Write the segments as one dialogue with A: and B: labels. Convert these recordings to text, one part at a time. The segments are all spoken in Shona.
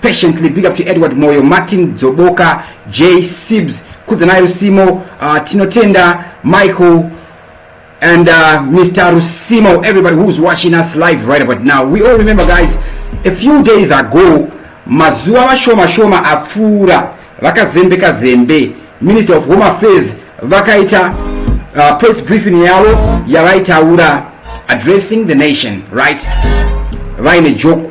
A: patiently big up to edward moyo martin dzoboka j sibs kudzanayo simo uh, tinotenda michael and uh, mr rusimo everybody who's watching us live right about now we all remember guys a few days ago mazuva mashoma shoma apfuura vakazembeka zembe minister of home affairs vakaita uh, press briefing yavo yavaitaura addressing the nation right vaine joku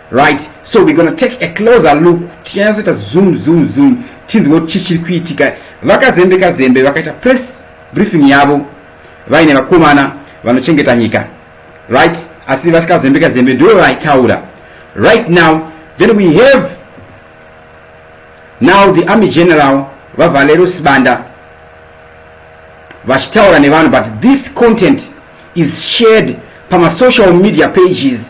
A: Right, so we're gonna take a closer look tichanyatsoita zoom zoom zoom tinzwe kuti chii chiri kuitika vakazembe kazembe vakaita press briefing yavo vaine vakomana vanochengeta nyika right asi vasikazembe kazembe ndivo vaitaura right now then we have now the army general vavalero sibanda vachitaura nevanhu but this content is shared pamasocial media pages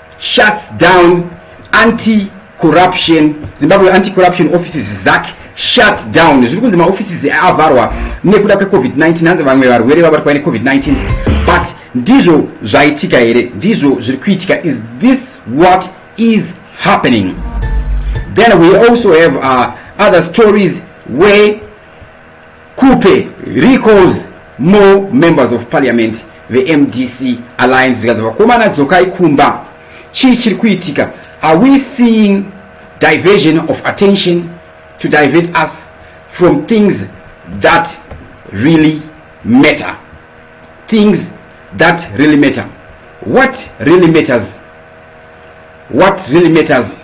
A: shuts down anti corruption zimbabwe anti corruption offices zac shuts down zviri kunzi maoffices avharwa nekuda kwecovid-19 hanzi vamwe varwere vabatwa necovid-19 but ndizvo zvaitika here ndizvo zviri kuitika is this what is happening then we also have uh, other stories where Khupe recalls more members of parliament vemdc alliance zvikanzi vakomana dzokai kumba chii chiri kuitika are we seeing diversion of attention to divert us from things that really matter things that really matter what really matters what really matters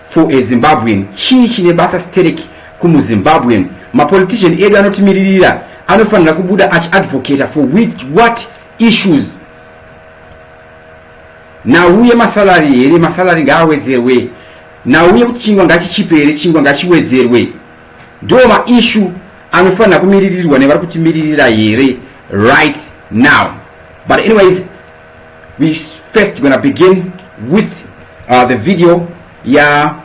A: for a zimbabwean chii chine basa sterek kumuzimbabwean mapolitician edu anotimiririra anofanira kubuda achiadvocata for which, what issues nauye masalari here masalari ngaawedzerwe nauye kuti chingwa ngachichipe here chingwa ngachiwedzerwe ndo maishu anofanira kumiririrwa nevari kutimiririra here right now but anyways we first gonna begin with uh, the video ya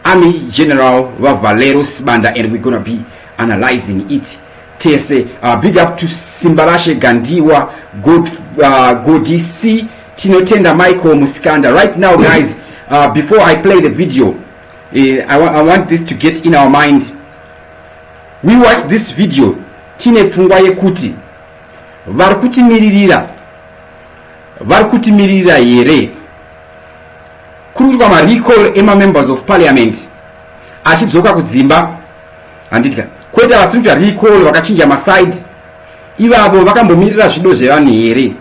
A: army general vavalero sibanda and we're gonna be analyzing it tese uh, big up to simbalashe gandiwa god, uh, godi c tinotenda michael musikanda right now guys uh, before i play the video Eh, I, wa I want this to get in our mind we watch this video tine pfungwa yekuti vari kutimiririra vari kutimiririra here kuri kuitwa marecall emamembers of parliament achidzoka kudzimba handitya kwete vasinoita recall vakachinja maside ivavo vakambomirira zvido zvevanhu here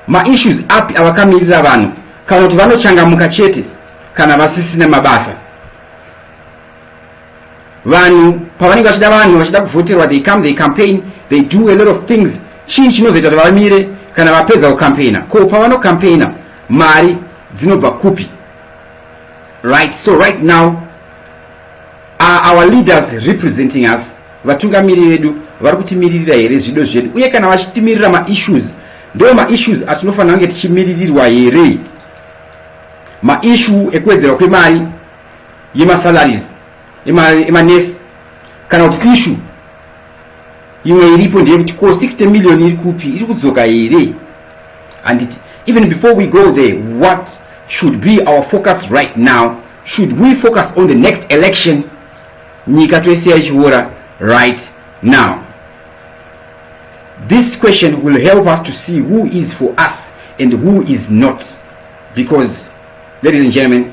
A: maissues api avakamirira vanhu kana kuti vanochangamuka chete kana vasisina mabasa vanhu pavanenge vachida vanhu vachida kuvhoterwa they come they campaign they do a lot of things chii chinozoita kuti vamire kana vapedza kucampaigna ko pavanocampaigna mari dzinobva kupi right so right now are our leaders representing us vatungamiri vedu vari kutimiririra here zvido zvedu uye kana vachitimirira maissues ndo maissues atinofanira kunge tichimiririrwa here maissue ekuwedzerwa kwemari yemasalaries emanesi ema kana kuti ishu imwe iripo ndeyekuti ko 60 million iri kupi iri kudzoka here handiti even before we go there what should be our focus right now should we focus on the next election nyika toisiya ichiora right now this question will help us to see who is for us and who is not because ladies and gentlemen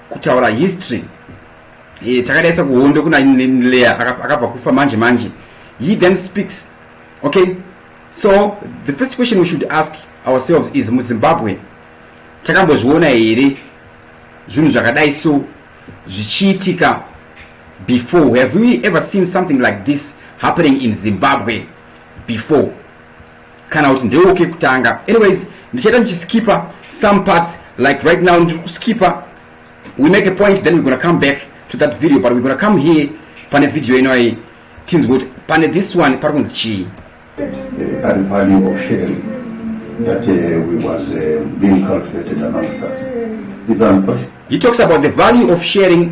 A: kutaura history eh, takadai sekuhondo kuna leya akabva kufa manje manje he then speaks okay so the first question we should ask ourselves is muzimbabwe takambozviona here zvinhu zvakadai so zvichiitika before have we ever seen something like this happening in zimbabwe before kana kuti ndewo kekutanga anyways ndichaita ndichiskipa some parts like right now ndiri kuskipa we make a point then we're gonna come back to that video but we're gonna come here pane video ino iyi tinzwe kuti pane this one pari kunzi chii ari
B: value of sharing that uh, we was uh, being cultivated amongst us it's
A: unfortunate he talks about the value of sharing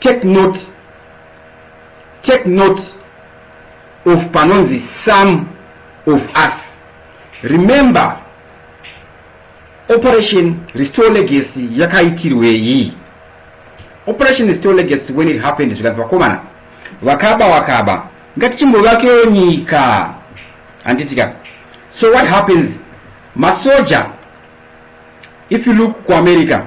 A: Take note, take note of panonzi some of us. Remember, operation restore legacy yakaitirwei? Operation restore legacy when it happened zvikanzi vakomana vakaba wakaba ngatichimbovakewo nyika handitika so what happens masoja if you look kuamerica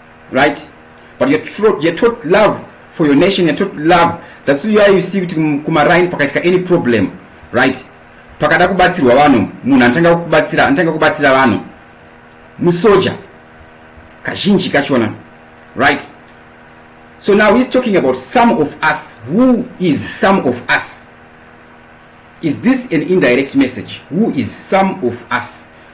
A: right but you're taught, you're taught love for your nation you're taught love that's why you see kuti kumaraini pakaitika any problem right pakada kubatsirwa vanhu munhu anotanga kubatsira anotanga kubatsira vanhu musoja kazhinji kachona right so now he's talking about some of us who is some of us is this an indirect message who is some of us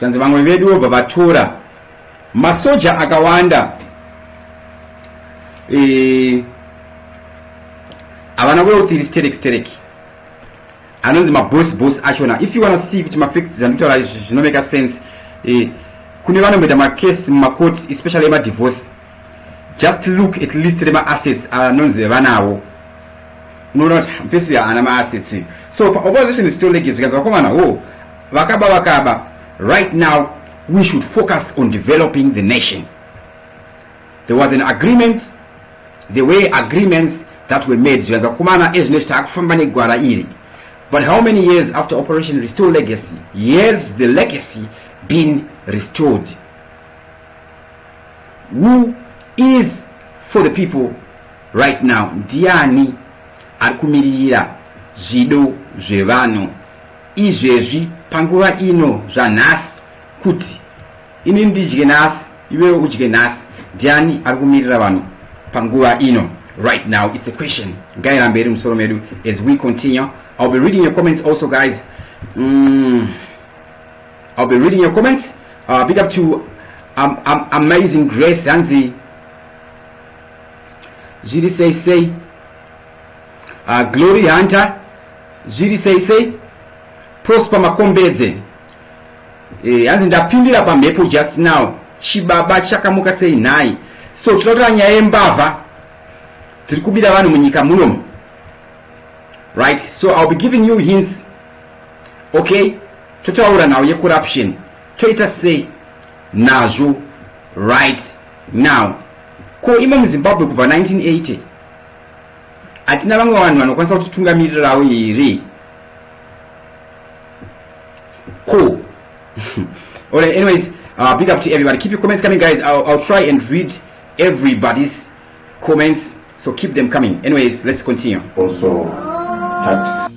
A: zvikanzi vamwe vedu vobva vatora masoja akawanda e, havana wealth iri sterek sterek anonzi maboss boss achona if you wanna see kuti mafacts andikutaura zvinomeka sense e, kune vanomboita macase mumacourt especially emadivorce just look at list remaassets anonzi vevanawo unoona kuti mfesi uyo haana maassets uyu so paopposition is still lake zvikanzi vakomana ho vakaba vakaba right now we should focus on developing the nation there was an agreement the way agreements that were made zvikanzi vakomana ezvino zviti akufamba negwara iri but how many years after operation restore legacy yes the legacy been restored who is for the people right now ndiani ari kumiririra zvido zvevanhu izvezvi panguva ino zvanhasi kuti ini ndidye nhasi iwewe udye nhasi ndiani ari kumirira vanhu panguva ino right now it's a question ngairambe iri musoro medu as we continue i'll be reading your comments also guys mm. I'll be reading your comments. Uh, big up to um, um, Amazing Grace hanzi zviri sei sei uh, Glory Hunter zviri sei sei Prosper Makombedze eh, hanzi ndapindira pamhepo just now chibaba chakamuka sei nhai so tinotora nyaya yembavha dziri kubira vanhu munyika munomu right so i'll be giving you hints okay Totaura nhau yecorruption toita sei nazvo right now. Ko imo muzimbabwe kubva 1980 hatina vamwe vanhu vanokwanisa kutitungamirirawo here ko alright anyways uh, big up to everybody keep your comments coming guys I'll, i'll try and read everybody's comments so keep them coming anyways let's continue also
B: tactics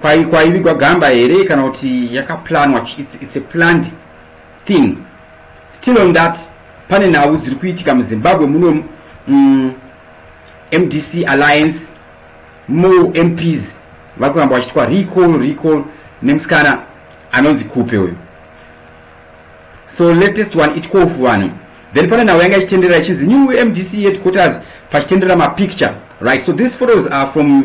A: kwai kwaivigwa gamba here kana kuti yakaplanwa it's, it's a planned thing still on that pane nhau dziri kuitika muzimbabwe muno mm, mdc alliance mo mps vari kuramba vachitwa recall recall nemusikana anonzi kupe uyu so latest one itkofu vanhu then pane nhau yanga ichitenderera ichinzi new mdc headquarters pachitenderera mapicture right so these photos are from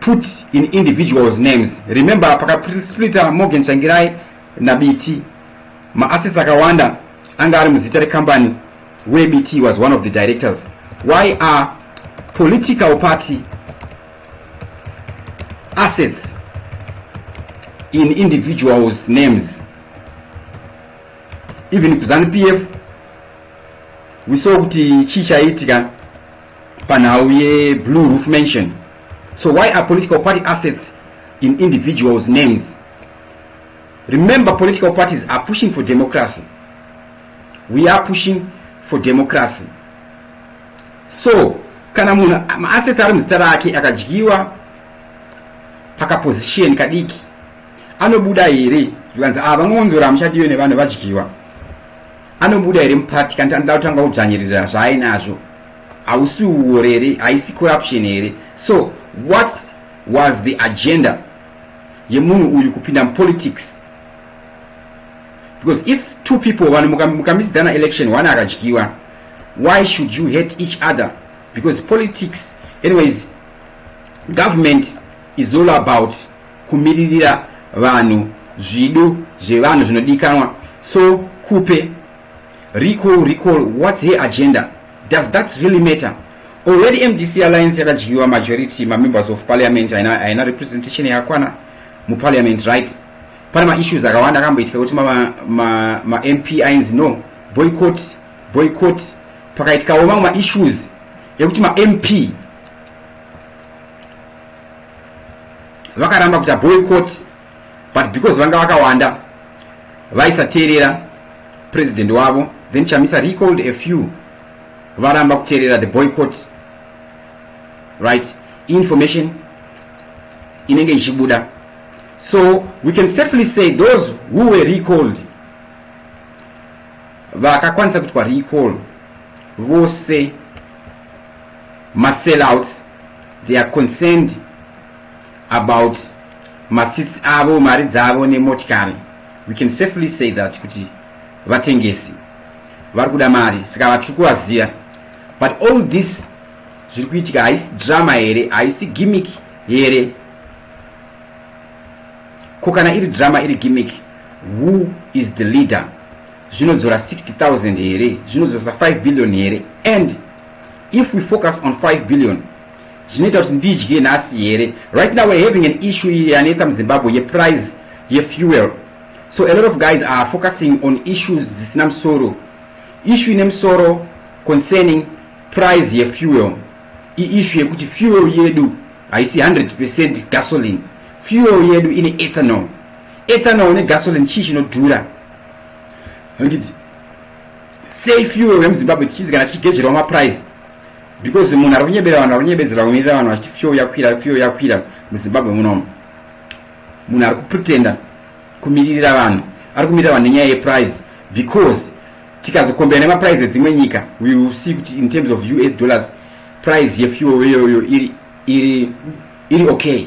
A: put in individuals names remember pakasplita morgan changirai nabiti maassets akawanda anga ari muzita rekambani where bt was one of the directors why are political party assets in individuals names even kuzanu pf we saw kuti chii chaiitika panhau yeblue roof mansion so why are political party assets in individuals names remember political parties are pushing for democracy we are pushing for democracy so kana munhu maasesi ari muzita rake akadyiwa pakaposition kadiki anobuda here zvikanzi ava ah, ngonzora muchadiwe nevanhu vadyiwa anobuda here mupati kanti anoda kutanga kudzvanyiririra zvaainazvo hausi uwori here haisi corruption here so what was the agenda yemunhu uyu kupinda mupolitics because if two people vanhu mukamisidzana muka election one akadyiwa why should you hate each other because politics anyways government is all about kumiririra vanhu zvido zvevanhu zvinodikanwa so kupe recall recall what's her agenda does that really matter already mdc alliance yakadyiwa majority mamembers of parliament haina representation yakakwana muparliament right pane maissues akawanda akamboitika kuti mamp ma, ma ainzi no boycott boycott pakaitikawo mamwe maissues ekuti mamp vakaramba kuita boycott but because vanga vakawanda vaisateerera president wavo then chamisa recalled a few varamba kuteerera the boycott right information inenge ichibuda so we can safely say those who were recalled vakakwanisa kuitwa recall vose masellouts They are concerned about maseats avo, mari dzavo nemotikari. We can safely say that kuti vatengesi vari kuda mari saka vatrikuvaziva but all this zviri kuitika haisi drama here haisi gimmick here ko kana iri drama iri gimmick who is the leader zvinodzora 60000 here zvinodzoresa 5 billion here and if we focus on 5 billion zvinoita kuti ndidye nhasi here right now we're having an issue iye yanetsa muzimbabwe yeprice yefuel so a lot of guys are focusing on issues dzisina musoro issue ine musoro concerning price yefuel iissue yekuti fuel yedu haisi 100 percent gasoline fuel yedu ine ethanol ethanol negasoline chii chinodhura handiti sei fuel vemuzimbabwe tichinzi kana tichigezverwa maprice because munhu ari kunyebera vanhu ari kunyebedzera kumirira vanhu vachiti fuel yakwira fuel yakwira muzimbabwe munomu munhu ari kupretenda kumiririra vanhu ari kumirira vanhu nenyaya yeprice because tikazokombera nemaprice edzimwe nyika we will see kuti in terms of us dollars price yefuel iyoyo iri iri iri okay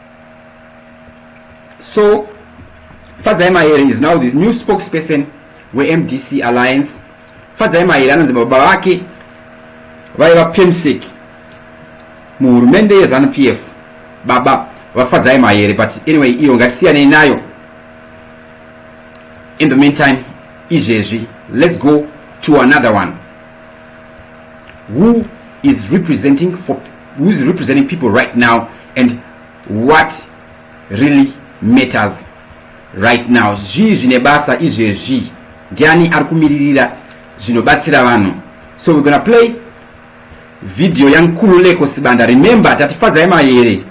A: So, Fadzai Mahere is now the new spokesperson weMDC Alliance. Fadzai Mahere anonzi baba vake vaiva PEMSEC muhurumende yezanu PF. Baba vafadzai Mahere but anyway iyo ngatisiyanei nayo. In the meantime, izvezvi let's go to another one. Who is representing for who's representing people right now and what really matters right now zvii zvine basa izvezvi ndiani ari kumiririra zvinobatsira vanhu so we're gonna play video yankululeko sibanda remember tatifadza yemayere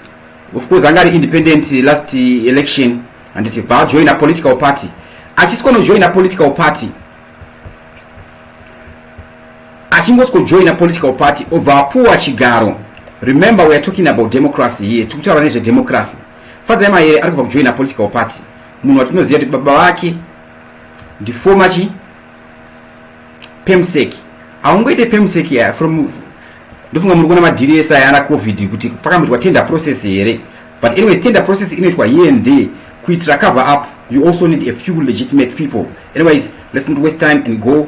A: of course anga ari independent last election handiti bva ajoina political party achisi konojoina political party achingosikojoina political party obva apuwa chigaro remember weare talking about democracy here tiri kutaura nezvedemocracy fadzai mayere ari kubva kujoina political party munhu watinoziva kuti baba vake ndifoma chi pemseki haungoite pemseki ya from ndofunga muri kuona madhiri ese ayana covid kuti pakamboitwa tender process here but anyways tender process inoitwa here and there kuitira cover up you also need a few legitimate people anyways let's not waste time and go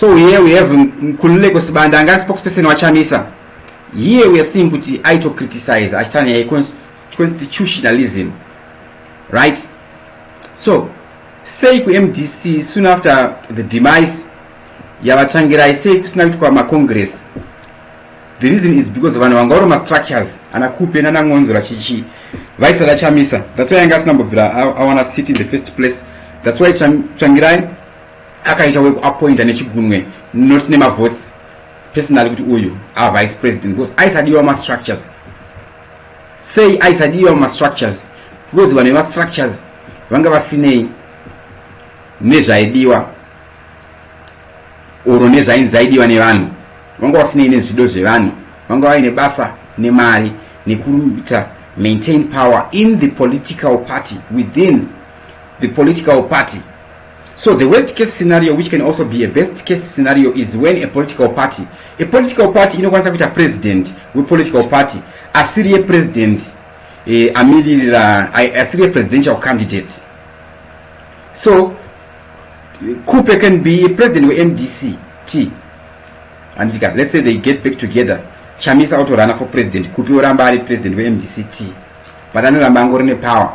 A: So here we have Nkululeko Sibanda anga spokesperson waChamisa. Here we are seeing kuti aito criticize achitanya yeconstitutionalism. Right? So, sei kuMDC soon after the demise yavatsvangirai sei kusina kuitwa macongress? The reason is because vanhu vanga vari mastructures ana kupe nana ngonzora chichi vaisada Chamisa. That's why anga asina mbobvira awana city in the first place. That's why Tsvangirai akaita weku appointa nechigunwe not nemavotes personally kuti uyu a vice president because aisadiwa mastructures sei aisadiwa mastructures because vanhu vemastructures vanga vasinei nezvaidiwa oro nezvainzi zaidiwa nevanhu vanga vasinei nezvido zvevanhu vanga vaine basa nemari nekuita maintain power in the political party within the political party So the worst case scenario which can also be a best case scenario is when a political party a political party inokwanisa kuita president wepolitical party asiri yepresident eh, amiririra asiri yepresidential candidate so kupe can be a president wemdc t anditika let's say they get back together chamisa autorana for president kupi oramba ari president wemdc t but anoramba angori nepower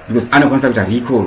A: because anokwanisa kuita recall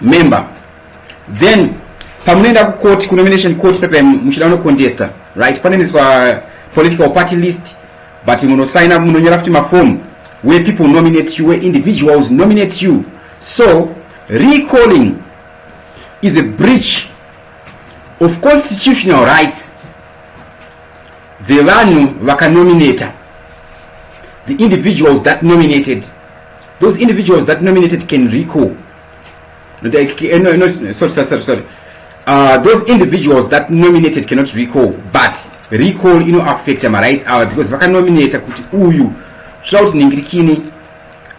A: member then pamunoenda kucourt kunomination court pepe muchida kunocontesta right panoendeswa political party list but munosaina munonyora futi mafomu where people nominate you where individuals nominate you so recalling is a breach of constitutional rights dzevanhu vakanominata the individuals that nominated those individuals that nominated ken rico eh, no, no, no, sorry, sorry, sorry. Uh, those individuals that nominated cannot recall but recall ino affecta marights ava because vakanominata kuti uyu toda kuti ningirikini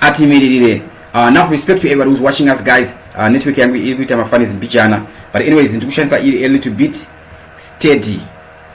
A: atimiririre uh, now respect to everybody who's watching us guys uh, network yangu iri kuita mafanis mbijana but anyways ndiri kushandisa iri a little bit steady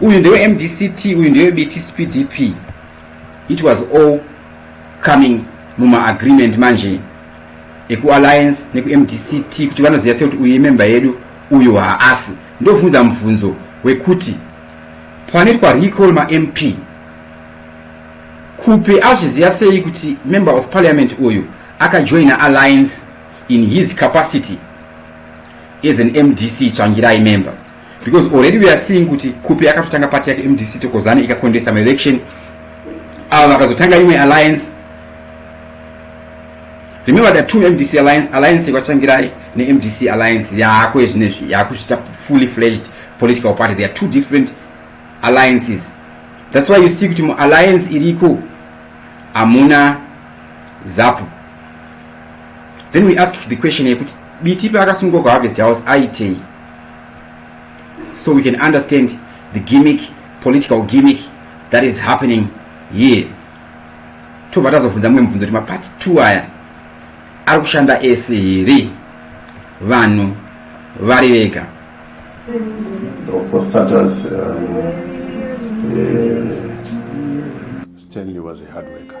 A: uyu ndewe mdct uyu ndewe bts pdp it was all coming mumaagreement manje ekualliance nekumdct kuti vanoziva sekuti uyu imemba yedu uyu haasi ndovhunza mubvunzo wekuti panoitwa recall mamp kupi azviziva sei kuti member of parliament uyu akajoina alliance in his capacity as an mdc tsvangirai member because already we are seeing kuti kupi akatotanga party yake mdc tokozane ikacontesta maelection ava vakazotanga imwe alliance remember the two mdc alliance alliance yekwatsvangirai nemdc alliance yaako yezvinezvi yaakuzvita fully fledged political party there are two different alliances that's why you see kuti mualliance iriko hamuna zapu then we ask the question yekuti biti paakasungwa kuharvest house aitei so we can understand the gimmick political gimmick that is happening here tobva tazobvunza mumwe mubvunzo kuti mapart two aya ari kushanda ese here vanhu vari vega
B: Stanley was a hard worker.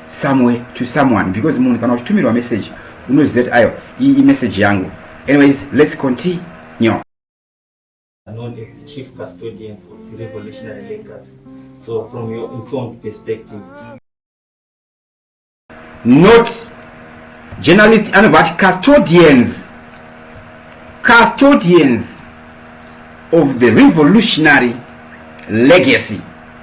A: somewhere to someone because munhu kana uchitumirwa message unoziva kuti ayo iyi imessage yangu anyways let's continue known as the
C: chief custodians of the revolutionary leaders so
A: from your informed perspective not journalist anobva ati custodians custodians of the revolutionary legacy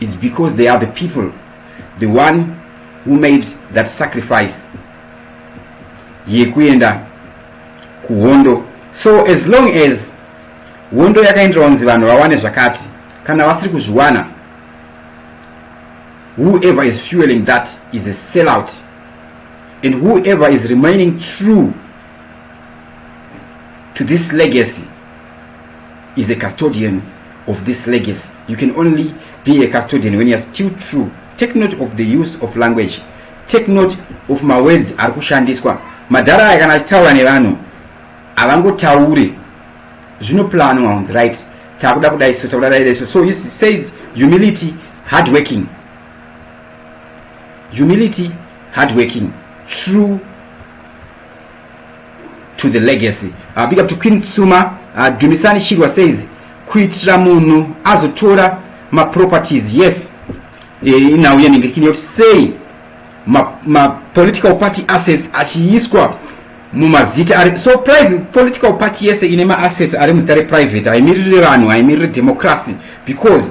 A: is because they are the people the one who made that sacrifice yekuenda kuhondo so as long as hondo yakaenderwa kunzi vanhu vawane zvakati kana vasiri kuzviwana whoever is fueling that is a sellout and whoever is remaining true to this legacy is a custodian of this legacy you can only be a custodian when youare still true take note of the use of language take note of mawords ari kushandiswa madhara aya kana achitaura nevanhu havangotauri zvinoplanwa unzi right takuda kudai so takuda kudai so so this says humility hard working humility hard working true to the legacy uh, big up to queen tsuma uh, dumisani chirwa says kuitira munhu azotora maproperties yes inhau yenhingirikini yoti sei mapolitical ma party assets achiiswa mumazita ari so private political party yese ine maassets ari muzita reprivate haimiriri vanhu haimiriri democracy because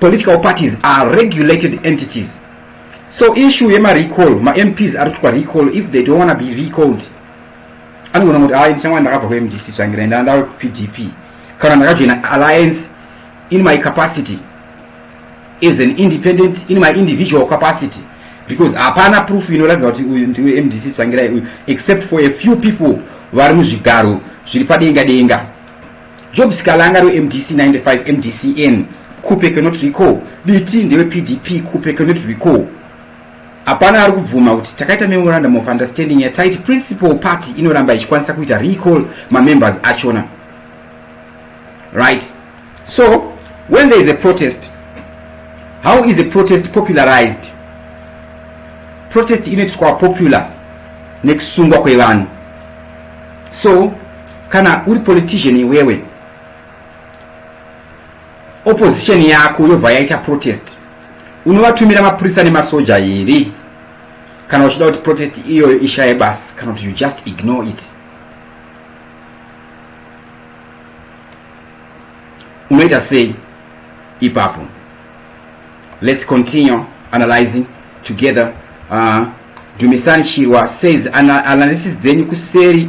A: Political parties are regulated entities. So issue yema recall, ma MPs are to recall if they don't want to be recalled. Anogona kuti hayi ndichanga ndakabva ku MDC tsvangira enda ndawe ku PDP kana ndakajoina alliance in my capacity as an independent in my individual capacity because hapana proof inoratidza kuti uyu ndiwe MDC tsvangira uyu except for a few people vari muzvigaro zviri padenga denga. Job Sikalanga rwe MDC 95 MDCN Khupe cannot recall Biti ndewe PDP Khupe cannot recall Hapana ari kubvuma kuti takaita memorandum of understanding yataiti principal party inoramba ichikwanisa kuita recall mamembers achona right so when there is a protest how is a protest popularized protest inoitiswa popular nekusungwa kwevanhu so Kana uri politician iwewe, opposition yako yobva yaita protest, unovatumira mapurisa nemasoja here kana uchida kuti protest iyoyo ishaye basi kana kuti you just ignore it? Unoita sei ipapo? Let's continue analyzing together. Uh, Dumisani Chirwa says analysis dzenyu kuseri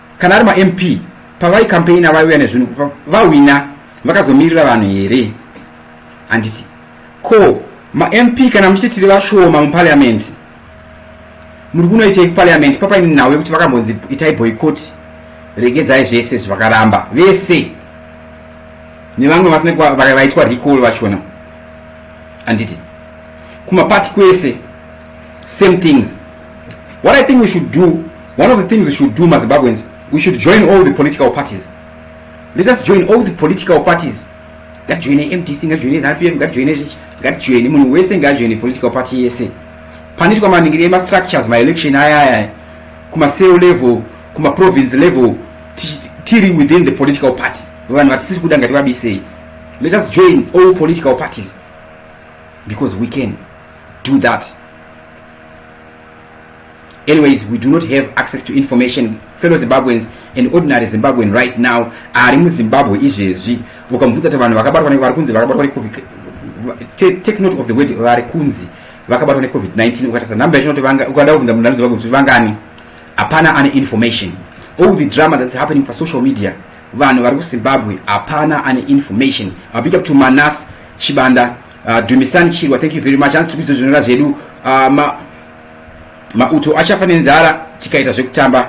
A: Kana ari maMP pavai campaigner vaiuya nezvinhu vahwina vakazomirira vanhu here? Handiti ko maMP kana muchiti tiri vashoma muparliament muri kunoitei kuparliament papaine nhau yekuti vakambonzi itai boycott regedzai zvese zvakaramba vese nevamwe vasina vaitwa recall vachona handiti kumapati kwese same things what i think we should do one of the things we should do mazimbabweans we should join all the political parties let us join all the political parties ngajoine mdc ngajoine zrpm ngajoine zvichi ngajoine munhu wese ngajoine political party yese panoitwa maningiri emastructures maelection aya aya kumacell level kumaprovince level tiri within the political party vanhu vatisisi kuda ngativabisei let us join all political parties because we can do that anyways we do not have access to information fellow zimbabweans and ordinary zimbabwean right now ari muzimbabwe izvezvi ukamubvunza kuti vanhu vakabatwa vari kunzi vakabatwa necovid take note of the word vari kunzi vakabatwa necovid-19 ukatasa number yacho noti ukada kuvhunza munhu ari muzimbabwe kuti vangani hapana ane information all the drama that's happening pasocial media vanhu vari kuzimbabwe hapana ane information abig up to manas chibanda Uh, Dumisani Chirwa, thank you very much. Hansi tikuidzo zvinonga zvedu uh, ma, mauto achafa nenzara tikaita zvekutamba.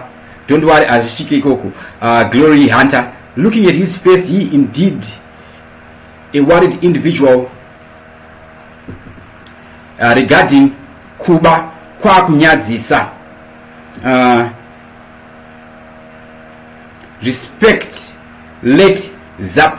A: Don't worry, hazvichike ikoko. Uh, Glory Hunter, looking at his face, he indeed a worried individual uh, regarding kuba kwakunyadzisa. Uh, respect let zap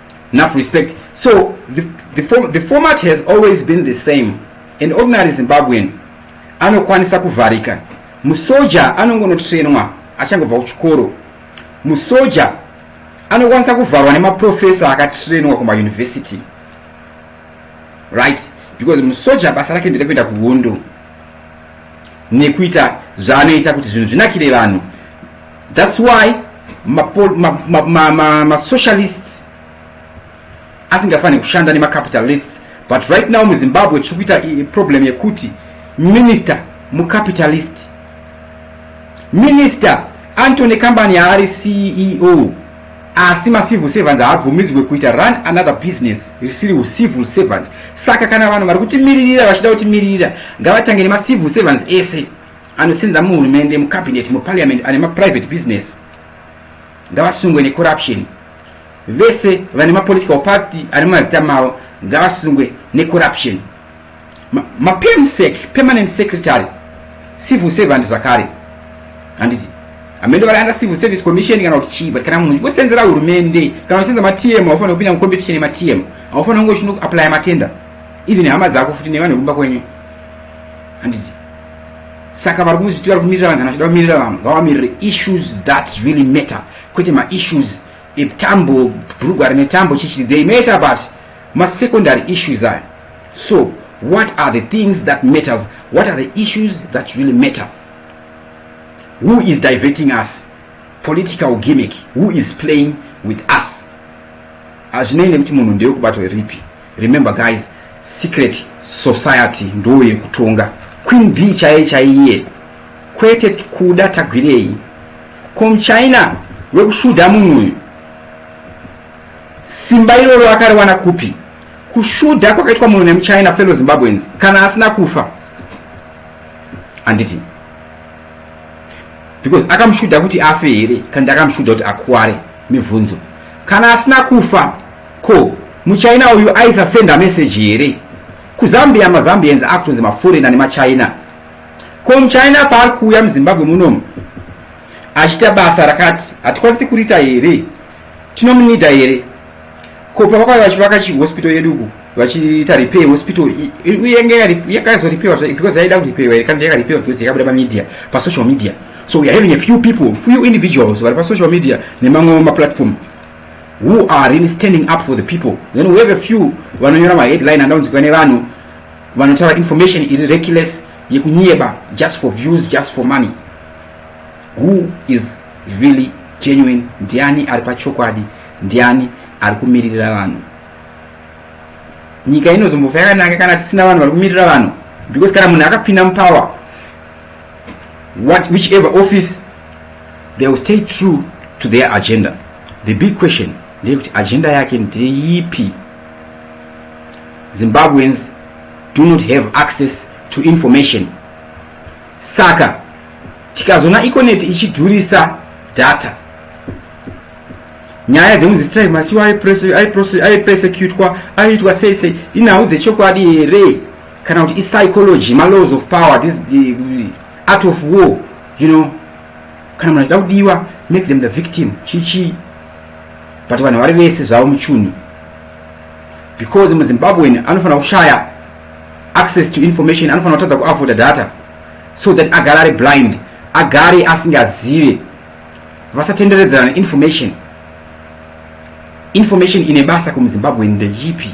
A: Enough respect. So the, the, form, the format has always been the same. An ordinary Zimbabwean anokwanisa kuvharika. Musoja anongonotrainwa achangobva kuchikoro. Musoja anokwanisa kuvharwa nemaprofesa akatrainwa kumauniversity. Right? Because musoja basa rake nderekuenda kuhondo nekuita zvaanoita kuti zvinhu zvinakire vanhu That's why masocialists asingafane kushanda nemacapitalists but right now muzimbabwe tiri kuita problem yekuti minister mucapitalist minister antony company yaari ceo asi macivil servants haabvumidzwe kuita run another business risiri ucivil servant saka kana vanhu vari kutimiririra vachida kutimiririra ngavatange nemacivil servants ese Anosenza muhurumende, mucabinet, muparliament ane maprivate business ngavasungwe necorruption. Vese vane mapolitical party ane mazita mavo ngavasungwe necorruption. Mapemsec, ma permanent secretary, civil servant zvakare handiti amene vari under civil service commission kana kuti chii but kana munhu uchingosenzera hurumende kana uchisenza matm haufanira kupinda mucompetition yematm haufanira kunge uchinoaplya matenda even hama dzako futi nevanhu vekumba kwenyu handiti saka vari kuzviti vari kumirira vanhu kana vachida kumirira vanhu ngavamirire issues that really matter kwete maissues etambo bhurugwa rine tambo chichi they matter but masecondary issues aya so what are the things that matters what are the issues that really matter who is diverting us political gimmick who is playing with us hazvinei nekuti munhu ndeyekubatwa ripi Remember guys, secret society ndoo yekutonga. Queen B chaiye chaiye kwete kuda tagwirei kom china wekushuda munhu uyu simba iroro akariwana kupi kushuda kwakaitwa munhu nemuchina fellow zimbabweans kana asina kufa handiti because akamushuda kuti afe here kandi akamushuda kuti akuware mibvunzo kana asina kufa Ko muchina uyu aisa senda message here kuzambia mazambians akutonzi mafurena nemachina ko muchina paari kuuya muzimbabwe munomu achiita basa rakati hatikwanisi kuriita here tinomunida here ko pavakauya vachivaka chihospital yedu uku vachiita repair hospital uyenge yakazoripewa because yaida kuripewa here kana yakaripewa because yakabuda pamedia pasocial media so weare having a few people few individuals vari pasocial media nemamwe maplatform who are really standing up for the people then we have a few vanonyora maheadline andaunzikwa nevanhu vanotaura information iri reckless yekunyeba just for views just for money who is really genuine ndiani ari pachokwadi ndiani ari kumiririra vanhu nyika inozombofa yakanaka kana tisina vanhu vari kumirira vanhu because kana munhu akapinda mupower what whichever office they will stay true to their agenda the big question ndeyekuti agenda yake ndeyipi zimbabweans do not have access to information saka tikazona econet ichidhurisa data nyaya dzekunzi strive masiwa aipersecutwa aiitwa sei sei inhau dzechokwadi here kana kuti ipsychology malaws of power this art of war you know kana munhu achida kudiwa make them the victim chichii but vanhu vari vese zvavo muchunhu because muzimbabwean anofanira kushaya access to information anofanira kutadza kuavoda data so that agare ari blind agare asingazive vasatenderedzerana information information ine basa kumuzimbabwean ndeyipi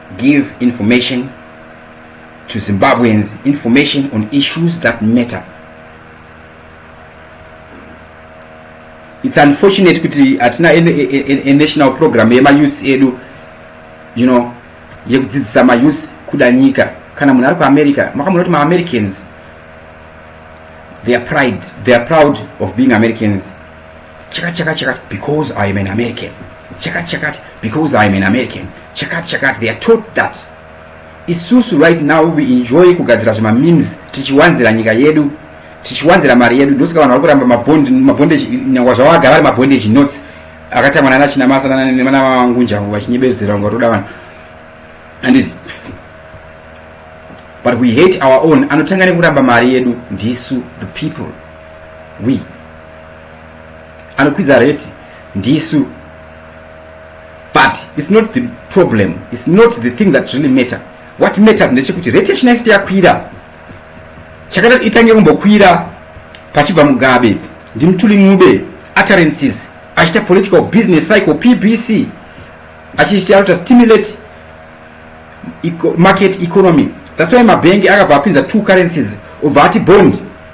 A: Give information to Zimbabweans, information on issues that matter. It's unfortunate kuti hatina a, a, a national program yemayouth edu you know yekudzidzisa mayouth kuda nyika kana munhu ari kuamerica makamona kuti maamericans they are pride they are proud of being americans chakati chakati chakati because i am an american chakati chakati because i am an american chakati chakati they are taught that isusu right now we enjoy kugadzira zvemamemes tichiwanzira nyika yedu tichiwanzira mari yedu ndosaka vanhu vari kuramba mabondage nyangwa zvavo agara ari mabondage notes akatangwa nana chinamasa nana vangunjangu vachinyebezera kunga toda vanhu anditi but we hate our own anotanga nekuramba mari yedu ndisu the people wi anokwidza reti ndisu but its not the problem its not the thing that really matter what matters ndechekuti reti yachinaisiti yakwira chakada itange kumbokwira pachibva mugabe ndimutuli mube utterances achiita political business cycle pbc achiita anoita stimulate market economy that's why mabhengi akabva apinza two currencies obva ati bond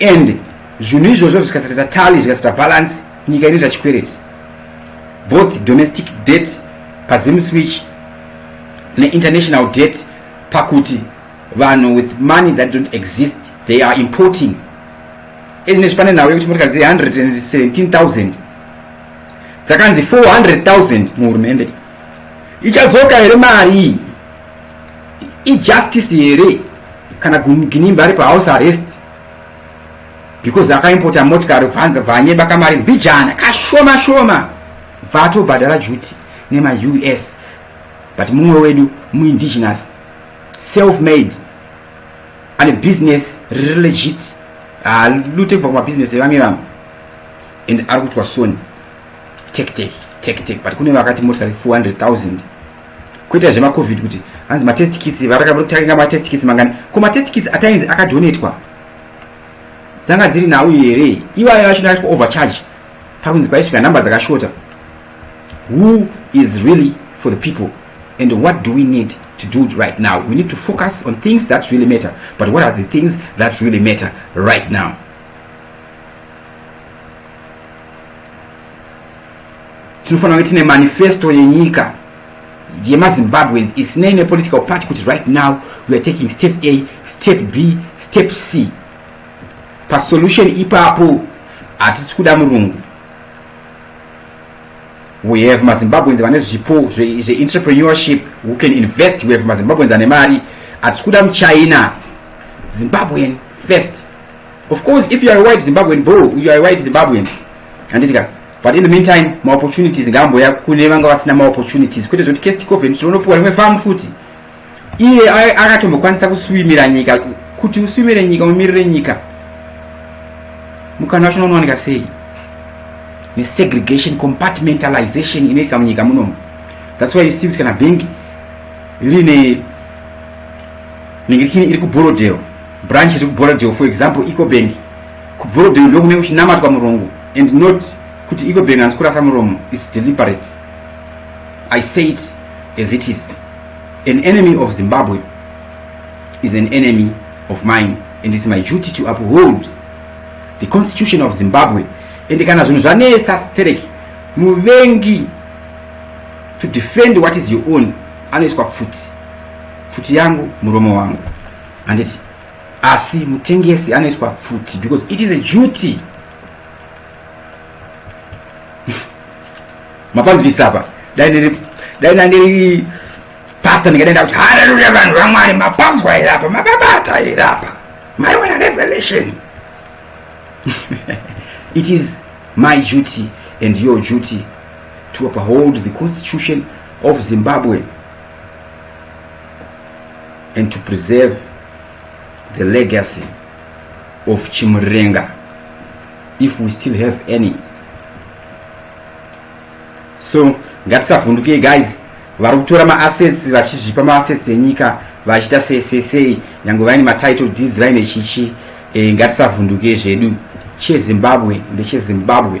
A: and zvinhu izvozvo zvikasatata tally zvikasata balance nyika inoita chikwereti both domestic debt pazim switch neinternational debt pakuti vanhu with money that don't exist they are importing ezvinezvi pane nhau yekuti motikari dziri 117000 dzakanzi 400000 muhurumende ichadzoka here mari iyi ijustice here kana ginimba ari pahouse arrest because akaimpota motikari kubvanza bvanyeba kamari mbijana kashoma shoma bva atobhadhara juti nemaus but mumwe wedu muindigenous self made ane business riri legit halute kubva kumabhizinesi evamwe vamwe and ari kutwa soni tektek tektek but kune vakati motikari 400 000 Kuita zvema covid kuti hanzi ma test kits varaka muri kutaringa ma test kits mangani ko ma test kits atainzi akadonetwa dzanga dziri nhau here iwayo yacho ndakaitwa overcharge pakunzi paisvika number dzakashota who is really for the people and what do we need to do it right now. We need to focus on things that really matter. But what are the things that really matter right now? tinofanira kunge tine manifesto yenyika yemazimbabweans isinei nepolitical party kuti right now we are taking step a step b step c pasolution ipapo hatisi kuda murungu we have mazimbabweans vane zvipo zveenterpreneurship who can invest we have mazimbabweans ane mari hatisi kuda muchina zimbabwean first Of course, if you are a white Zimbabwean, bro, you are a white Zimbabwean. Handiti ka? But in the meantime, ma opportunities ngambo ya kune vanga vasina ma opportunities. Kwete zvoti case tikoven tinonopuwa rimwe farm futi. Iye akatombokwanisa kuswimira nyika kuti uswimire nyika umirire nyika. Mukana wacho unowanika sei? Ne segregation compartmentalization inoitika munyika munomu. That's why you see kuti kana bank rine ningirikini iri kuBorrowdale branch iri kuborodeo for example ecobank kuborodeo ndokunenge kuchinamatwa murongo and not kuti ecobank hanzi kurasa muromo its deliberate i say it as it is an enemy of zimbabwe is an enemy of mine and its my duty to uphold the constitution of zimbabwe and kana zvinhu zvanetsa sterek muvengi to defend what is your own anoiswa pfuti pfuti yangu muromo wangu handiti asi mutengesi anoiswa pfuti because it is a duty mapanzvisa apa dai ndiri dai ndandiri pasta ndingadai ndakuti haleluya vanhu vamwari mapanzwa here apa mababata here apa maiwana revelation it is my duty and your duty to uphold the constitution of zimbabwe and to preserve the legacy of Chimurenga if we still have any so ngatisavhundukei guys vari kutora maassets vachizvipa maassets enyika vachiita sesesei nyange vaine matitle deeds vaine chichi e, eh, ngatisavhundukei zvedu chezimbabwe ndechezimbabwe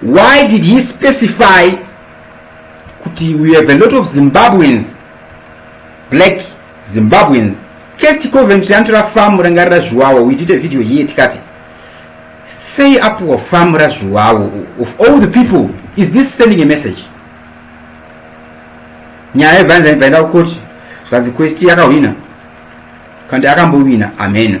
A: why did he specify kuti we have a lot of zimbabweans black zimbabweans kesti coventry anotora famu rangarira zviwawa we did a video here tikati sei apuwa famu razviwawo of all the people is this sending a message nyaya yebvanza ibvaenda kukoti zvikanzi kwesti yakahwina kandi akambowina ameno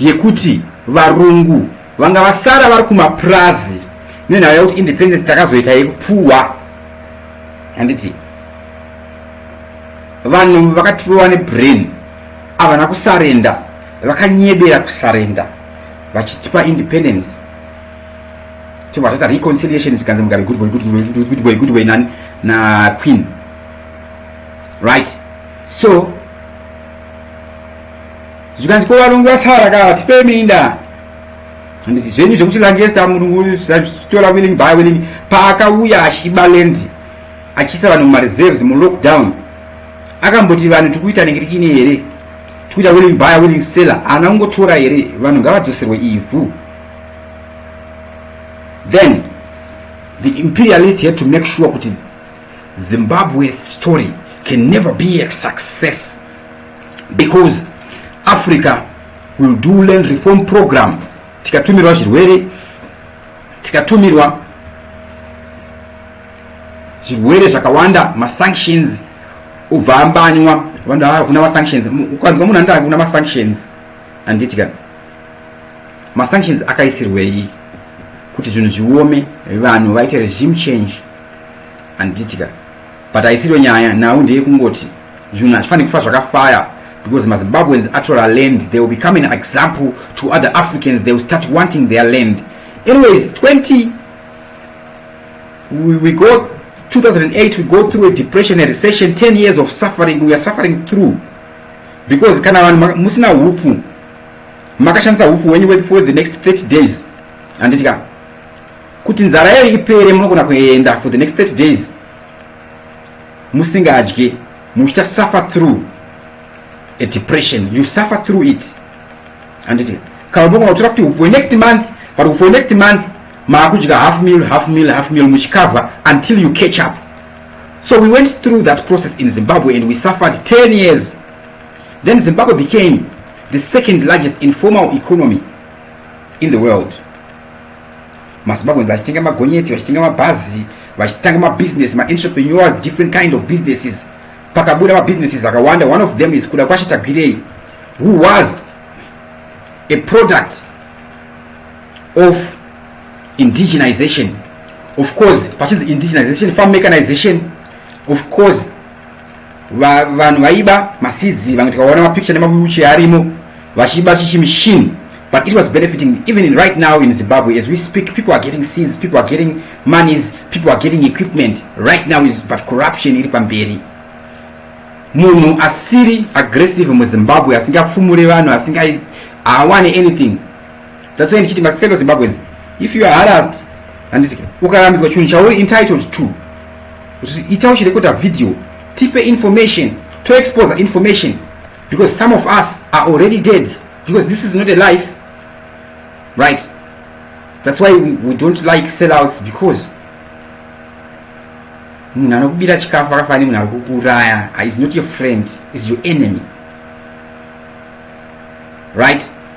A: yekuti varungu vanga vasara vari kumapurazi nenhau yakuti independence takazoita yekupuhwa handiti vanhu vakatirova nebrain havana kusarenda vakanyebera kusarenda vachitipa independence tobva tata reconciliation zvikanzi mugabe good boy good boy good boy good boy nani na queen right so zvikanzi ko varongi vasara ka vatipei minda handiti zvenyu zvekuti langesta murungu zvitora willing by willing paakauya achiba land achiisa vanhu mumareserves mulockdown akamboti vanhu tiri kuita nengirikini here tikuita willing buyer willing seller ana kungotora here vanhu ngavadzoserwe ivhu then the imperialist had to make sure kuti zimbabwe story can never be a success because africa will do land reform program tikatumirwa zvirwere tikatumirwa zvirwere zvakawanda masanctions ubva ambanywa vanhu ava kuna masanctions ukanzwa munhu andaa kuna masanctions handiti ka masanctions akaisirwei kuti zvinhu zviome vanhu vaite regime change handiti ka But haisiyo nyaya, nhau ndeyekungoti zvinhu hazvifanire kufa zvakafaya because mazimbabweans atora land they will become an example to other africans they will start wanting their land anyways 20 we, we go 2008 we go through a depression a recession 10 years of suffering we are suffering through because kana vanhu musina hufu makashandisa hufu wenyu for the next 30 days handiti ka kuti nzara yayo ipere munogona kuenda for the next 30 days musingadye muchita suffer through a depression you suffer through it handiti kana mogona kutora kuti for next month but for next month maakudya half meal half meal half meal muchikava until you catch up so we went through that process in zimbabwe and we suffered 10 years then zimbabwe became the second largest informal economy in the world mazimbabweans vachitenga magonyeti vachitenga mabhazi vachitanga mabusiness maentrepreneurs different kind of businesses pakabuda mabusinesses akawanda one of them is kuda kwashe tagwirei who was a product of indigenization of course pachinzi indigenization farm mechanization of course Va, vanhu vaiba masizi vamwe tikaona mapicture nemabuchi arimo vachiba chichi machine but it was benefiting even in right now in zimbabwe as we speak people are getting seeds people are getting monies people are getting equipment right now is but corruption iri pamberi munhu asiri aggressive muzimbabwe asingafumure vanhu asinga awane anything That's why ndichiti my fellow Zimbabweans, if you are harassed, handiti ukarambidzwa chinhu chauri entitled to, ita uchirekota video, tipe information, to expose information, because some of us are already dead, because this is not a life, right? That's why we, we don't like sellouts, because munhu anokubira chikafu akafanira nemunhu ari kukuuraya is not your friend, is your enemy, right?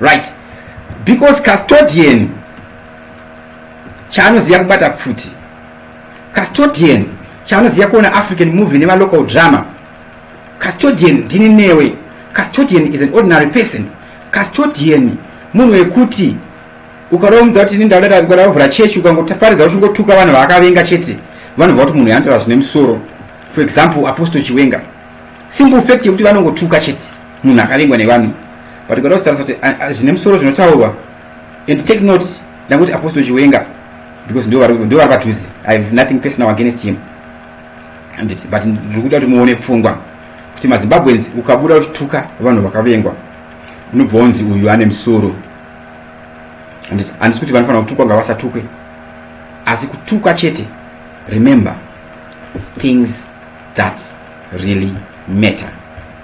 A: right because custodian chaanoziva kubata pfuti custodian chaanoziva kuona african movie nemalocal drama custodian ndini newe custodian is an ordinary person custodian munhu wekuti ukaromudza kuti ini ndauda kudauvhura chechi ukangotaparidza kuti ungotuka vanhu vaakavenga chete vanobva kuti munhu yanotaura zvine musoro for example apostle chiwenga simple fact yekuti vanongotuka chete munhu akavengwa nevanhu but kuda kusitarisa kuti zvine musoro zvinotaurwa and take note ndanguti apostle chiwenga because ndo vari padhuze i have nothing personal against him anditi but ndiri kuda kuti muone pfungwa kuti mazimbabweans ukabuda uchituka vanhu vakavengwa unobva wonzi uyu ane musoro anditi handisi kuti vanofanira kutukwa ngavasatukwe asi kutukwa chete remember things that really matter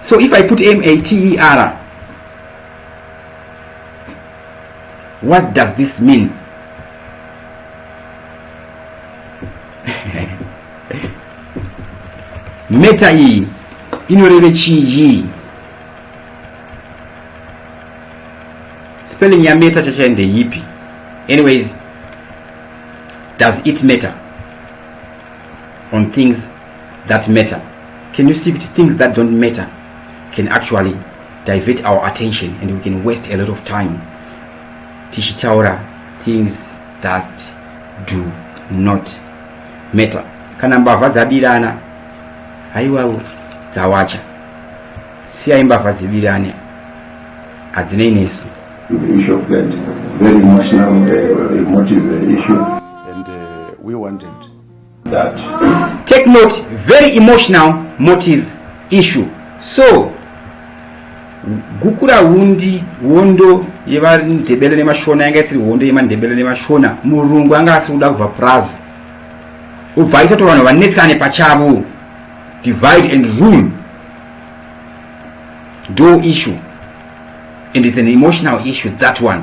A: so if i put mater what does this mean meta iyi inoreve chii spelling ya meta chachai ndeyipi anyways does it matter on things that matter can you see kuti things that don't matter can actually divert our attention and we can waste a lot of time tichitaura things that do not matter kana mbavha dzabirana haiwawo dzawacha siyai mbavha dzibirane hadzinei nesu very
D: emotional uh, emotive issue and uh,
B: we wanted
D: that. Take
A: note, very emotional motive issue. So, gukura hundi hondo yevandebele nemashona yanga isiri hondo yemandebele nemashona murungu anga asiri kuda kubva purazi ubva aita to vanhu vanetsane pachavo divide and rule do issue and it's an emotional issue that one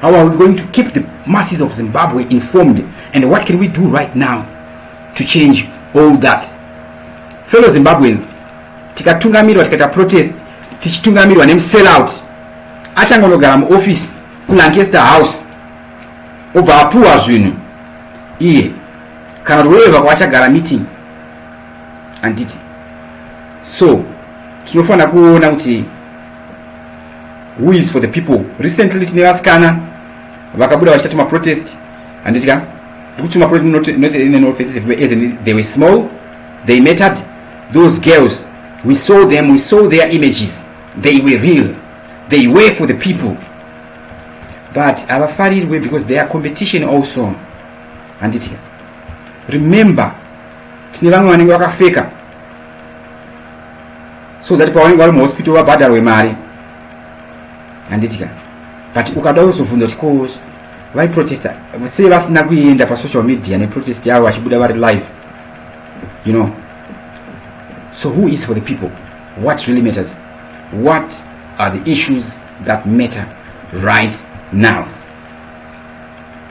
A: How are we going to keep the masses of Zimbabwe informed and what can we do right now to change all that? Fellow Zimbabweans, tikatungamirwa tikaita protest tichitungamirwa nemusellout achangonogara muoffice kulancaster house obva apuwa zvinhu iye kana kuti wevako achagara meeting handiti so tinofanira kuona kuti who is for the people recently tine vasikana vakabuda vachita tuma protest handiti ka ndikutuma protest not, not in an offensive way as in they were small they mattered those girls we saw them we saw their images they were real they were for the people but havafarirwe because they are competition also handiti remember tine vamwe vanenge vakafeka so that pawanenge vari muhospital vabhadharwe mari handiti ka but ukada kuzobvunza kuti ko vaiprotesta sei vasina kuenda pasocial media neprotest yavo vachibuda vari live you know so who is for the people what really matters what are the issues that matter right now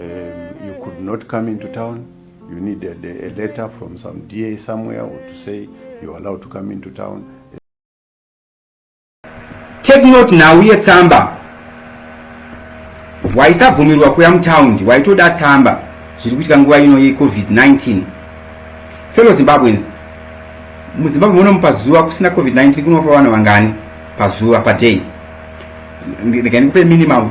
B: um, you could not come into town you need a, a letter from some da somewhere or to say you are allowed to come into town
A: take note nhau yetsamba waisabvumirwa kuya mutaundi waitoda tsamba zviri kuitika nguva ino yecovid-19 fellow zimbabweans muzimbabwe munomu pazuva kusina covid-19 kunofa vanhu vangani pazuva paday ndikaendikupe minimum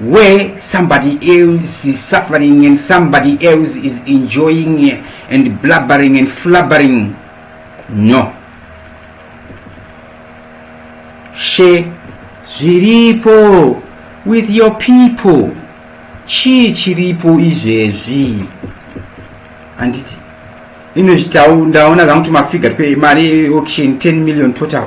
A: where somebody else is suffering and somebody else is enjoying and blabbering and flubbering no she zviripo with your people chii chiripo izvezvi handiti inozvitawo ndaona zvangu kuti mafiga mari auction 10 million total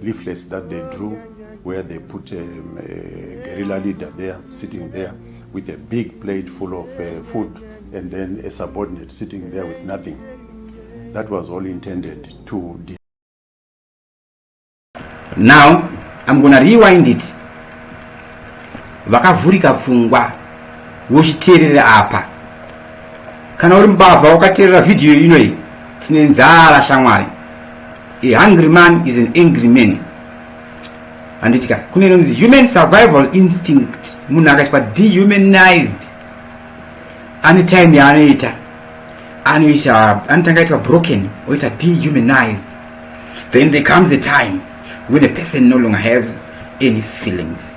B: leaflets that they drew where they put a, um, a guerrilla leader there sitting there with a big plate full of uh, food and then a subordinate sitting there with nothing that was all intended to
A: now i'm gonna rewind it vakavhurika pfungwa vochiteerera apa kana uri mbavha wakateerera vhidhiyo inoyi tine nzara shamwari A hungry man is an angry man. Handiti ka kune inonzi human survival instinct munhu akaitwa dehumanized ane time yaanoita anoita anotanga aitwa broken oita dehumanized then there comes a time when a person no longer has any feelings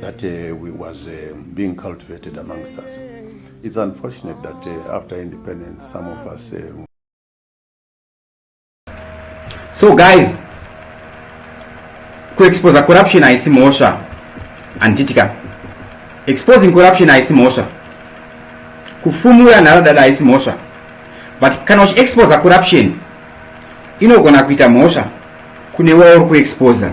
B: that uh, we was uh, being cultivated amongst us. It's unfortunate that uh, after independence, some of us. Uh...
A: So, guys, ku expose corruption haisi mhosva handitika exposing corruption haisi mhosva kufumura nharadada haisi mhosva but kana uchiexposa corruption inogona kuita mhosva kune wauri kuexposa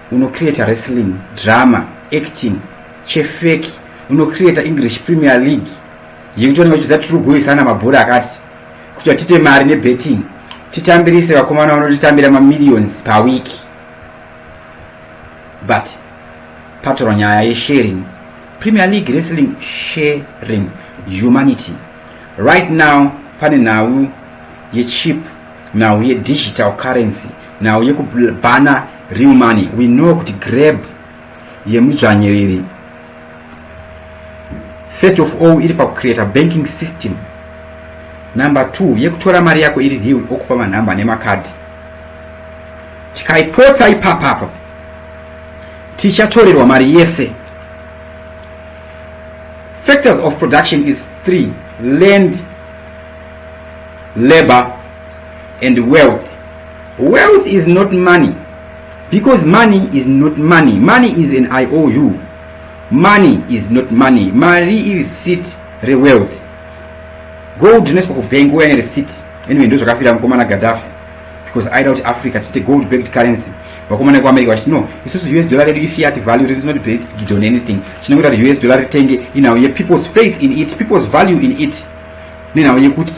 A: unocreata wrestling drama acting chefeki unocreata english premier league yekuti vanenge vachiudza tiri kugoisana mabhora akati kuti vatite mari nebetting titambirise vakomana vanotitambira mamillions pawiki but patorwa nyaya yesharing premier league wrestling sharing humanity right now pane nhau yechip nhau yedigital currency nhau yekubhana real money we know kuti grab yemudzvanyiriri first of all iri pakucreata banking system number two yekutora mari yako iri real okupa manhamba nemakadhi tikaipotsa ipapapa tichatorerwa mari yese factors of production is three land labor and wealth wealth is not money because money is not money money is an iou money is not money mari iri sit rewealth gold rinoiswa kubank uya neresit anyway ndo zvakafira mukomana gadhafi because aida kuti africa tiite gold backed currency vakomana vekuamerica vachiti no isusu us dollar redu ifiat value rits not based on anything chinongoita kuti us dollar ritenge inhau yepeople's faith in it people's value in it nenhau yekuti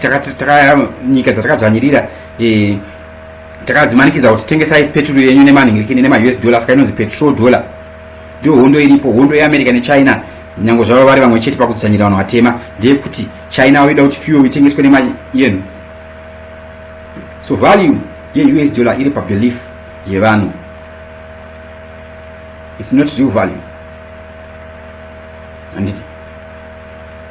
A: nyika dzatakadzvanyirira eh, takadzimanikidza kuti tengesai peturu yenyu nemanhingirikini nemaus dollar saka inonzi petrol dollar ndiyo hondo iripo hondo yeamerica nechina nyange zvavo vari vamwe chete pakudzvanyira vanhu vatema ndeyekuti china vaida kuti fuel itengeswe nemari yenu so value yeus dollar iri pabelief yevanhu its not real value handiti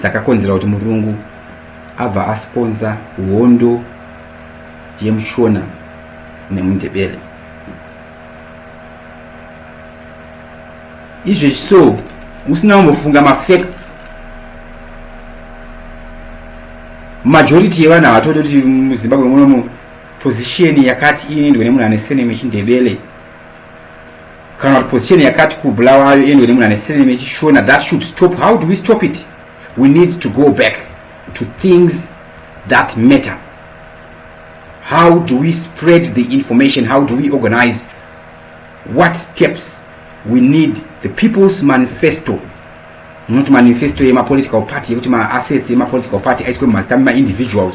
A: dzakakonzera kuti murungu abva asponsa hondo yemushona nemundebele izvezvi so usina kumbofunga mafacts majority yevanhu havatoti kuti muzimbabwe munomu position yakati inoendwa nemunhu ane seneme chindebele kana kuti position yakati kubulawayo iendwe nemunhu ane sirname yechishona that should stop how do we stop it we need to go back to things that matter how do we spread the information how do we organize what steps we need the people's manifesto munoti manifesto yemapolitical party yekuti maassets yemapolitical party aiswe mumazita memaindividuals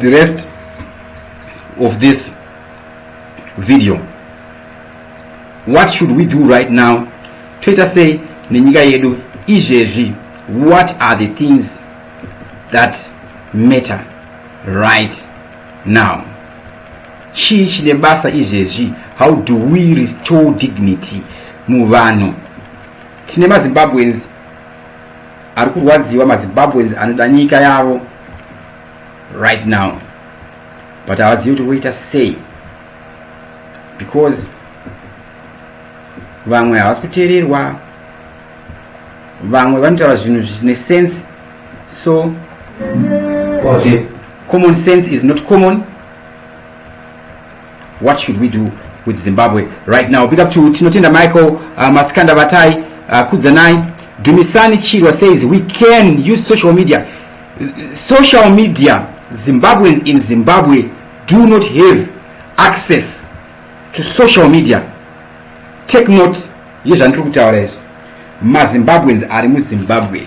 A: the rest of this video what should we do right now toita sei nenyika yedu izvezvi what are the things that matter right now chii chine basa izvezvi how do we restore dignity muvanhu tine mazimbabweans Ari kurwadziwa maZimbabweans anoda nyika yavo right now but havazivi kuti voita sei because vamwe havasi kuteererwa vamwe vanotaura zvinhu zvisine sense so okay. common sense is not common What should we do with Zimbabwe right now? Big up to Tinotenda Michael, uh, Maskanda Batai, uh, Kudzanai, Dumisani Chirwa says we can use social media. Social media, Zimbabweans in Zimbabwe do not have access to social media. Take note, yezvandiri kutaura izvi. MaZimbabweans ari muZimbabwe.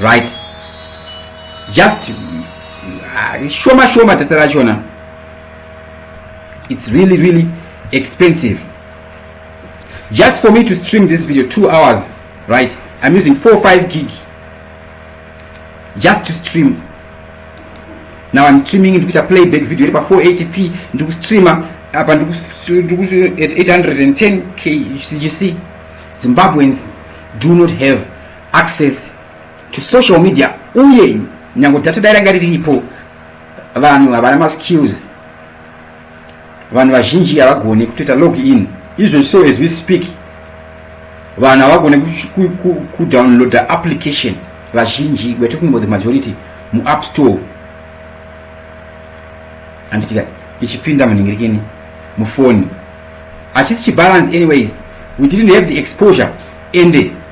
A: right just uh, shoma shoma tete rachona it's really really expensive just for me to stream this video two hours right i'm using four five gig just to stream now i'm streaming ndikuita playback video iri pa 480p ndikustreama apa ndiku 810 k you see zimbabweans do not have access to social media uye nyango data dai ranga riripo vanhu havana maskills vanhu vazhinji havagone kutoita log in izvo so as we speak vanhu havagone kudownloada application vazhinji we're talking about the majority muapp store handitika ichipinda munhingirikini mufoni hachisi chibalance anyways we didn't have the exposure ende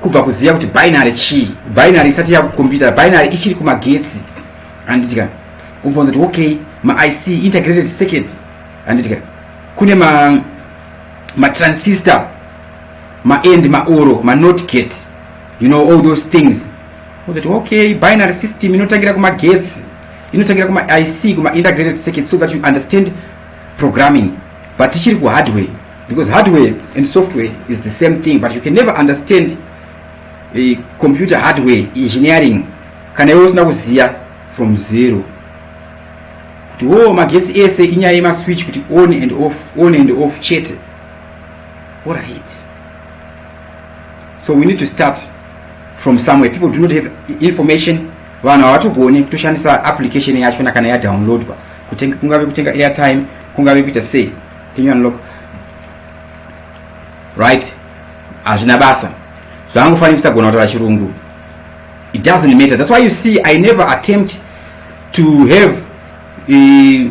A: kubva kuziva kuti binary chii binary isati yakukombiyuta binary ichiri kumagetsi handitika kubvunza kuti okay maic integrated circuit handitika kune ma matransistor maend maoro manot gate you know all those things uzoti okay binary system inotangira kumagetsi inotangira kumaic kumaintegrated circuit so that you understand programming but tichiri kuhardware because hardware and software is the same thing but you can never understand a computer hardware engineering kana iwe usina kuziya from zero kuti wo magetsi ese inyaya yemaswitch kuti on and off on and off chete orit so we need to start from somewhere people do not have information vanhu havatogoni kutoshandisa application yachona kana yadownloadwa kutenga kungave kutenga airtime kungave kuita sei can you unlock right hazvina basa zvangofanira kusagona kutaura chirungu it doesn't matter that's why you see i never attempt to have uh,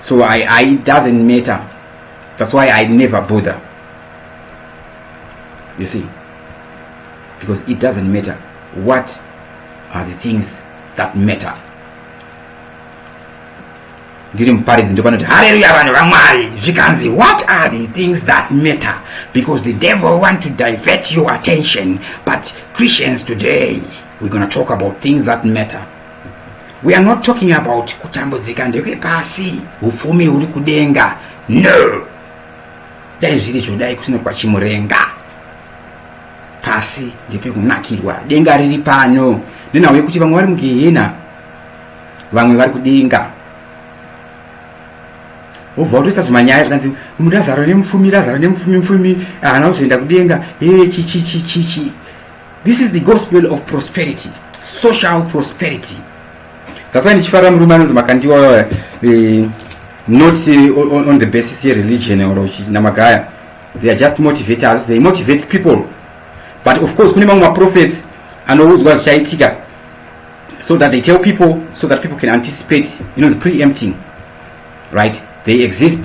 A: so I, I doesn't matter that's why I never bother you see because it doesn't matter what are the things that matter ndiri muparidzi ndopanoti hareruya vanhu vamwari zvikanzi what are the things that matter because the devil want to divert your attention but christians today we're going to talk about things that matter We are not talking about kutambudzika ndekwe pasi upfumi uri kudenga no dai zviri zvodai kusina kwachimurenga pasi ndepekunakirwa denga riri pano nenhau yekuti vamwe vari mugehena vamwe vari kudenga wobva watoisa zvimanyaya zvikanzi murazaro nemufumi razaro nemufumi mufumi haana kuzoenda kudenga ee chichichichichi This is the gospel of prosperity, social prosperity. That's why ndichifara murume anonzi makandiwa eh, not eh, on, on the basis of religion or namagaya. They are just motivators, they motivate people. But of course kune mamwe maprophets anoudzwa zvichaitika so that they tell people so that people can anticipate, you know, the preempting. right they exist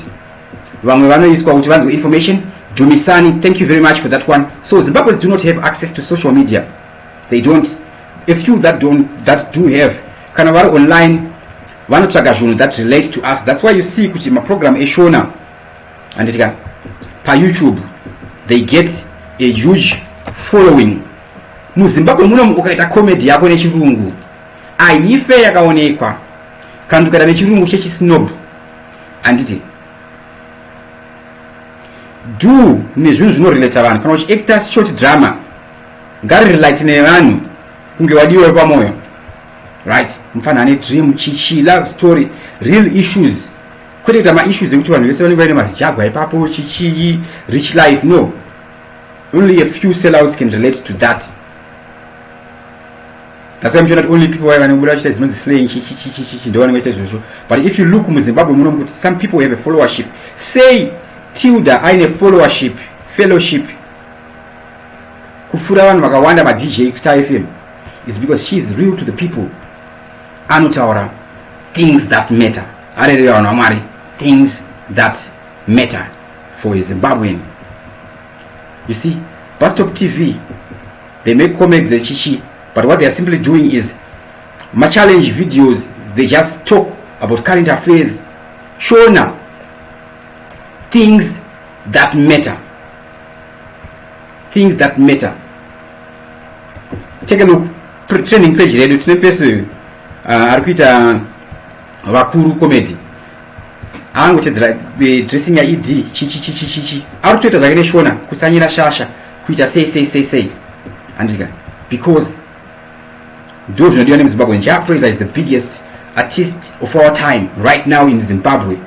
A: vamwe vanoiswa kuti vanzwe information dumisani thank you very much for that one so zimbabweans do not have access to social media they don't a few that don't that do have kana vari online vanotsvaga zvinhu that relate to us that's why you see kuti maprogram eshona anditika payoutube they get a huge following muzimbabwe munomu ukaita comedy yako nechirungu Ahife yakaonekwa kandukana nechirungu chechisnob handiti do nezvinhu zvinorelata vanhu kana uchiacta short drama ngarirelate nevanhu kunge wadiwa pamoyo right mufana ane dream chichi love story real issues kwete kuita maissues ekuti vanhu vese vanenge vaine mazijagwa ipapo chichii rich life no only a few sellouts can relate to that That's why I'm sure that only people vane kubuda vachiita zvinonzi slaying chichichichichi ndovanenge vachiita izvozvo but if you look muzimbabwe muno mukuti some people have a followership say tilda aine followership fellowship kupfuura vanhu vakawanda madj kustar fm is because she is real to the people anotaura things that matter arerera vanhu vamwari things that matter for a zimbabwean you see bustop tv They make comments they chichi but what they are simply doing is ma challenge videos they just talk about current affairs shona things that matter things that matter take a look training page redu tine pese uyu uh, ari kuita vakuru comedy aangotedzera eh, dressing yaed chichichichichichi ari kutoita zvake neshona kusanyira shasha kuita sei sei sei sei handika because ndo zvinodiwa nemuzimbabwe jah praiser is the biggest artist of our time right now in zimbabwe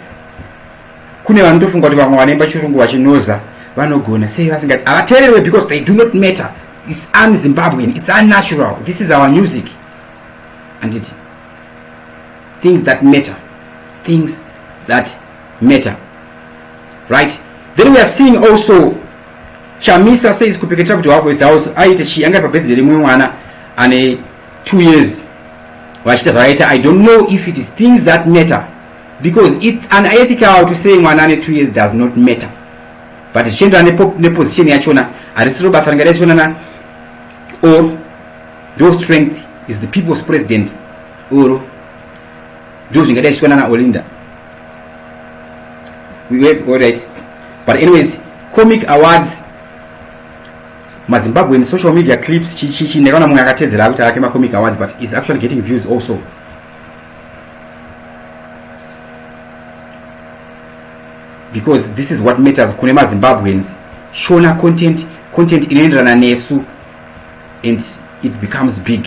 A: kune vanotofunga kuti vamwe vanoimba chirungu vachinoza vanogona sei vasingati havateererwe because they do not matter its un zimbabwean its unnatural this is our music anditi things that matter things that matter right then we are seeing also Chamisa says kupeketa kuti wako is house aite chii anga pa birthday remwe mwana ane 2 years vachita zvakaita i don't know if it is things that matter because it's unethical to say mwana ane 2 years does not matter but zvichienderana neposition yachona harisiro basa ringa rechionana or your strength is the people's president or ndizvo zvingadai zvichiwana na olinda we wave all right but anyways comic awards mazimbabwean social media clips chichichi nekaona mumwe akatedzera akuti ake macomic awards but is actually getting views also because this is what matters kune mazimbabweans shona content content inoenderana nesu and it becomes big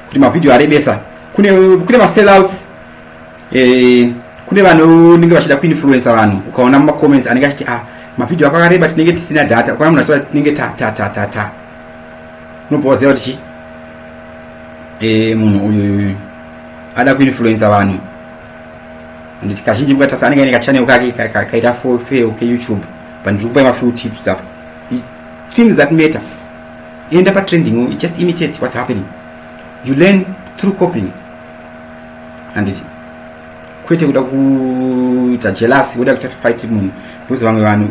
A: kuti mavhidhiyo arebesa kune kune masellouts eh, kune vanonenge vachida kuinfluensa vanhu ukaona mumacomments anenge achiti a ah, mavhidhiyo ako akareba tinenge tisina data ukaona munhu achita tinenge tatatatata unobva waziva kuti chi eh, munhu uyu ada kuinfluensa vanhu anditi kazhinji mukatasa anenge aine kachanel kake kaita fofeo keyoutube but ndiri kupai mafew tips apa things that matter enda patrending u just imitate what's happening you learn through copying handiti kwete kuda kuita jealous woda kuita fight munhu because vamwe vanhu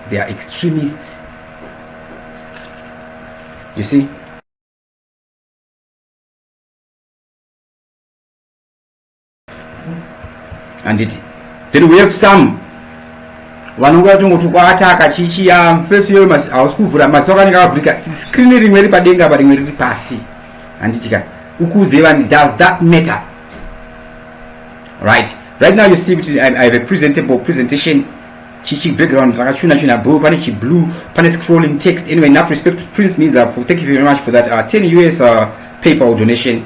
A: they are extremists you see handiti then we have some vanongo vatongotukwa ataka chichiya face yoyo hausi kuvhura maziso akanenge akavhurika screen rimwe riri padenga apa rimwe riri pasi handiti ka ukuudzei vani does that matter right right now you see kuti i have a presentable presentation chichi background rakachuna chuna blue pane chiblue pane scrolling text anyway enough respect to prince means uh, thank you very much for that uh, 10 us uh, paypal donation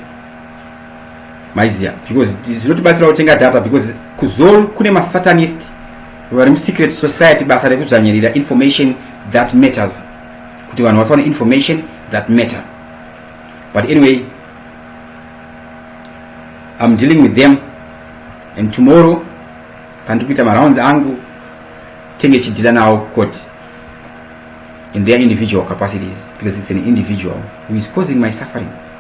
A: maiziya because zvinotibatsira kutenga data because kuzol kune masatanist vari musecret society basa rekudzvanyirira information that matters kuti vanhu vasaone information that matter but anyway im dealing with them and tomorrow pandiri kuita marounds angu tenge chidhila nawo koti in their individual capacities because it's an individual who is causing my suffering